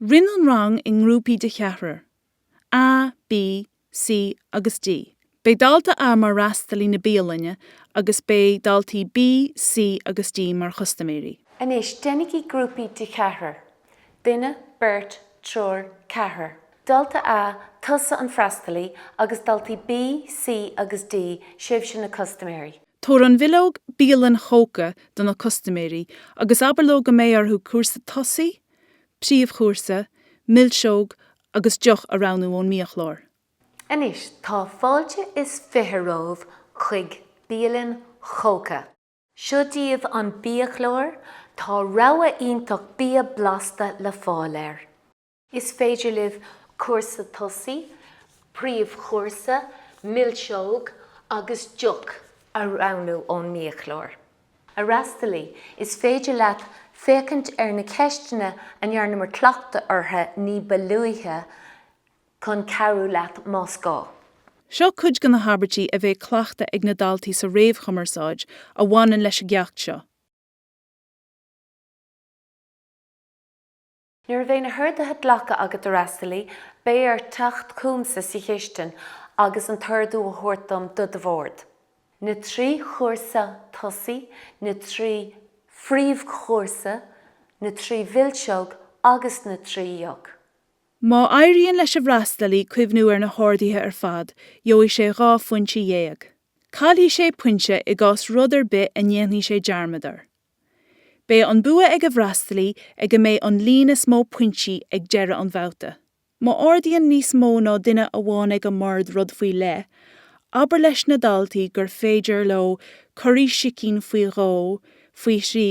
Roinn an rang i ngrúpaí de cheathrar, A, B, C agus D. Beidh dalta A mar fhreastalaí na bialainne agus beidh daltaí B, C agus D mar chustaiméirí. Anois déanaigí grúpaí de cheathrar, duine, beirt, triúr, ceathrar. Dalta A, tusa an freastalaí agus daltaí B, C agus D, sibhse na custaiméirí. Tabhair an bhileog bialann chóca do na custaiméirí agus abair leo go mbeidh orthu cúrsa tosaigh, príomhchúrsa, milseog agus deoch a roghnú ón mbiachlár. Anois tá fáilte is fiche romhaibh chuig bialann chóca. Seo daoibh an biachlár, tá rogha iontach bia blasta le fáil air. Is féidir libh cúrsa tosaigh, príomhchúrsa, milseog agus deoch a roghnú ón mbiachlár. A fhreastalaí, is féidir leat féachaint ar na ceisteanna a ndearnamar cleachtadh orthu ní ba luaithe chun cabhrú leat más gá. Seo cuid de na habairtí a bheidh cleachta ag na daltaí sa réamhchumarsáid a bhaineann leis an gceacht seo. Nuair a bheidh na horduithe glactha agat, a fhreastalaí, beidh ort teacht chugamsa sa chistin agus an t-ordú a thabhairt dom do do bhord. Na trí chúrsa tosaigh, na trí phríomhchúrsa, na trí mhilseog agus na trí dheoch. Má éiríonn leis an bhfreastalaí cuimhniú ar na horduithe ar fad, gheobhaidh sé dhá phointe dhéag. Caillfidh sé pointe i gcás rud ar bith a ndéanfaidh sé dearmad air. Beidh an bua ag an bhfreastalaí ag a mbeidh an líon is mó pointí ag deireadh an bhabhta. Má ordaíonn níos mó ná duine amháin ag an mbord rud faoi leith, abair leis na daltaí gur féidir leo curaí sicín faoi dhó, faoi thrí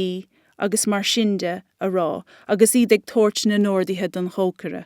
agus mar sin de a rá agus iad ag tabhairt na n-orduithe don chócaire.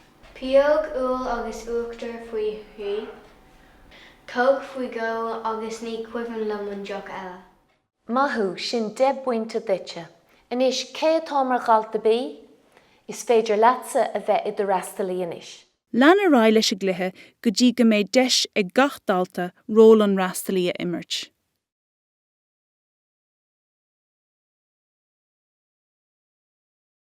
Pióg úll agus uachtar faoi thrí. Cóc faoi dhó agus ní cuimhin liom an deoch eile. Maith thú, sin deich bpointe duitse. Anois, cé atá mar dhalta B? Is féidir leatsa a bheith i do fhreastalaí anois. Lean ar aghaidh leis an gcluiche go dtí go mbeidh deis ag gach dalta ról an fhreastalaí a imirt.